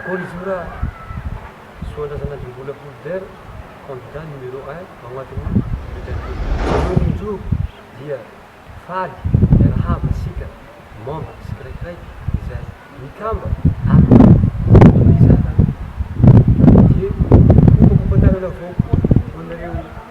Akory izy io raha Soandrasanadrimbola Fulbert, candidat numéro un ao anatin'ny bulletin fotsiny. Mamonjy io dia faly miarahaba antsika membres tsikiraikiraiky izay mikamba amin'ny fifandraisana. Dia hofakofantanana avao koa ho anareo.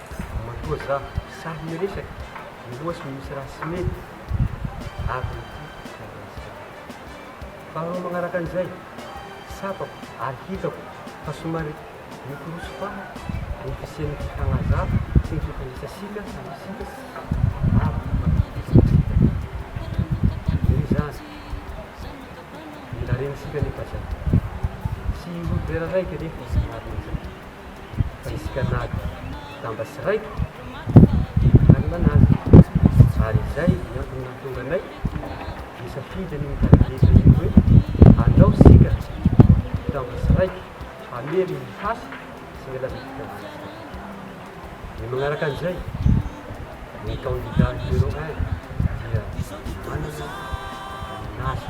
Matoa za sahy miresaka miloha sy misy raha tsy mety avy amin'ity fifandraisana ity. Faharoa magnaraka an'izay, tsapako ary hitako fa somary mikorosy faha ny fisian'ny fifanazava sy ny fifandraisantsika samy isika avy mifampizorozoro eto. Noho izany, mila rentsika anefa zay. Tsy ho vera raiky anefa ny marina zay. fa nisy mpianady damba sy raiko no nanalana azy ary izay ny antony nahatonga anay nisafidy ny mitady lesy azy ireo hoe alao isika damba sy raiko hamery ny hasy sy ny lalantsika valintsika. Ny manaraka an'izay, ny kandida numéro un dia manana ny nazy.